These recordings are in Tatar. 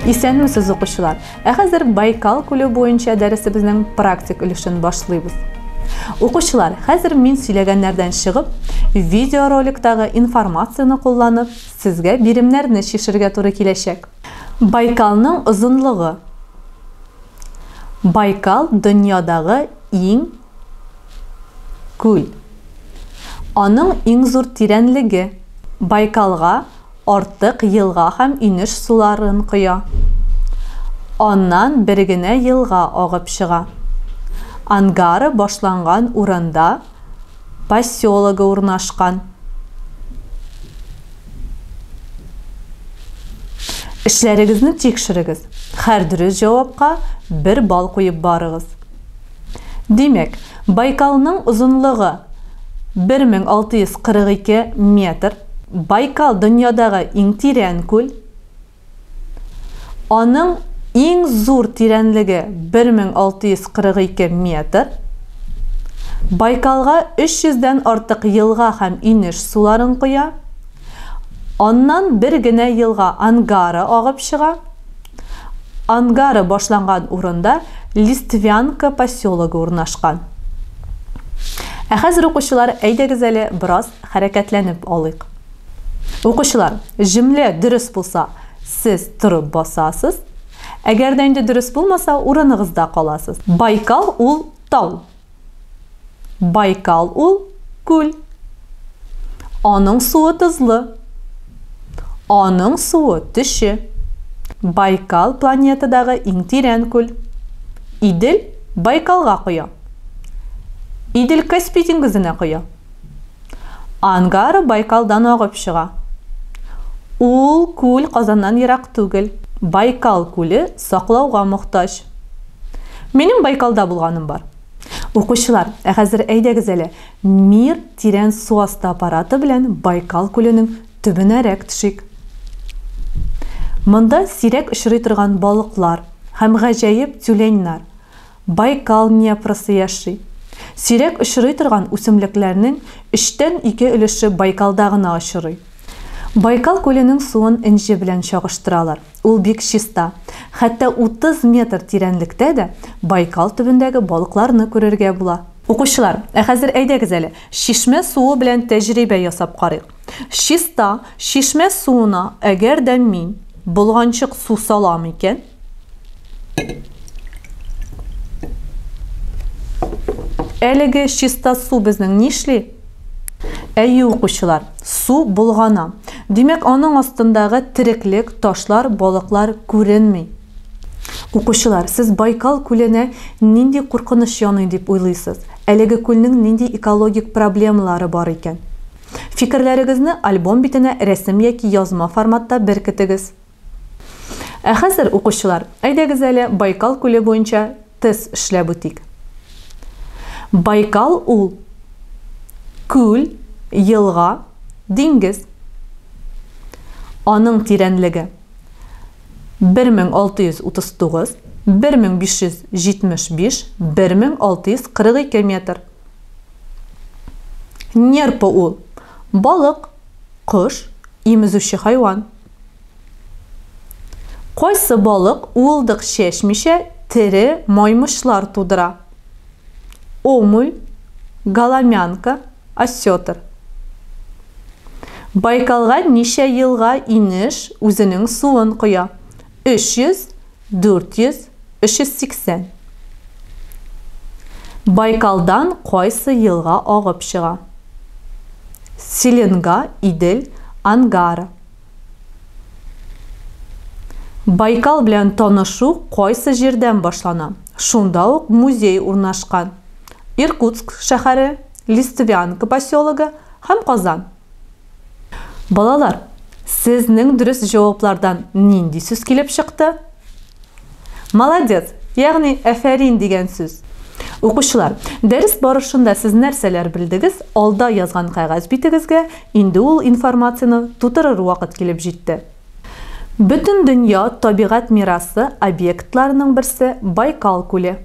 Исәнмесез укучылар! Ә хәзер Байкал күле буенча дәресебезнең практик өлешен башлыйбыз. Укучылар, хәзер мин сөйләгәннәрдән чыгып, видеороликтагы информацияне кулланып, сезгә биремнәрне чишергә туры киләчәк. Байкалның озынлыгы. Байкал дөньядагы Иң күл. Аның иң зур тирәнлеге. Байкалга артык елга һәм инеш суларын коя. Аннан бер генә елга агып чыга. Ангара башланган урында поселогы урнашкан. Эшләрегезне тикшерегез. Хәр дөрес җавапка бер балл куеп барыгыз. Димәк, Байкалның озынлыгы 1642 метр. Байкал дөньядагы иң тирән күл. Аның иң зур тирәнлеге 1642 метр. Байкалга 300 дән артык елга һәм инеш суларын коя. Аннан бер генә елга Ангара агып чыга. Ангара башланган урында Листвянка поселогы урнашкан. Ә хәзер, укучылар, әйдәгез әле бераз хәрәкәтләнеп алыйк. Укучылар, җөмлә дөрес булса, сез торып басасыз. Әгәр дә инде дөрес булмаса, урыныгызда каласыз. Байкал ул тау. Байкал ул күл. Аның суы тозлы. Аның суы төче. Байкал планетадагы иң тирән күл. Идел Байкалга коя. Идел Каспий диңгезенә коя. Ангара Байкалдан агып чыга. Ул күл Казаннан ерак түгел. Байкал күле Саклауга мохтаҗ. Минем Байкалда булганым бар. Укучылар, ә хәзер әйдәгез әле, Мир тирән су асты аппараты белән Байкал күленең төбенәрәк төшик. Монда сирәк очрый торган балыклар һәм гаҗәеп тюленьнар, Байкал Днепрысы яши. Сирәк очрый торган үсемлекләрнең өчтән ике өлеше Байкалда гына очрый. Байкал күленең суын энҗе белән чагыштыралар. Ул бик чиста. Хәтта 30 метр тирәнлектә дә Байкал төбендәге балыкларны күрергә була. Укучылар, ә хәзер әйдәгез әле, чишмә суы белән тәҗрибә ясап карыйк. Чиста чишмә суына әгәр дә мин болганчык су салам икән, әлеге чиста су безнең нишли? Әйе, укучылар, су болгана. Димәк, аның астындагы тереклек, ташлар, балыклар күренми. Укучылар, сез Байкал күленә нинди куркыныч яный дип уйлыйсыз? Әлеге күлнең нинди экологик проблемалары бар икән? Фикерләрегезне альбом битенә рәсем яки язма форматта беркетегез. Ә хәзер, укучылар, әйдәгез әле Байкал күле буенча тест эшләп үтик. Байкал ул күл, елга, диңгез. Аның тирәнлеге 1639, 1575, 1642 метр. Нерпа ул балык, кош, имезүче хайван. Кайсы балык уылдык чәчмичә тере маймычлар тудыра? Омуль, голомянка, осетр. Байкалга ничә елга инеш үзенең суын коя? 300, 400, 380. Байкалдан кайсы елга агып чыга? Селенга, Идел, Ангара. Байкал белән танышу кайсы җирдән башлана? Шунда ук музей урнашкан. Иркутск шәһәре, Листвянка поселогы һәм Казан. Балалар, сезнең дөрес җаваплардан нинди сүз килеп чыкты? Молодец, ягъни әфәрин дигән сүз. Укучылар, дәрес барышында сез нәрсәләр белдегез, алда язган кәгазь битегезгә инде ул информацияне тутырыр вакыт килеп җитте. Бөтендөнья табигать мирасы объектларының берсе Байкал күле.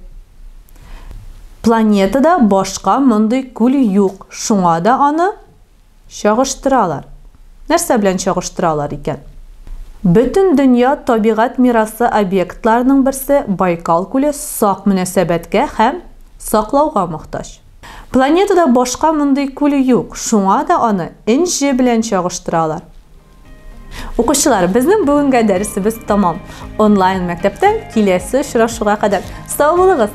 Планетада башка мондый күл юк, шуңа да аны. Чагыштыралар. Нәрсә белән чагыштыралар икән? Бөтендөнья табигать мирасы объектларының берсе Байкал күле сак мөнәсәбәткә һәм саклауга мохтаҗ. Планетада башка мондый күл юк, шуңа да аны Энҗе белән чагыштыралар. Укучылар, безнең бүгенге дәресебез тәмам. Онлайн мәктәптән киләсе очрашуга кадәр сау булыгыз!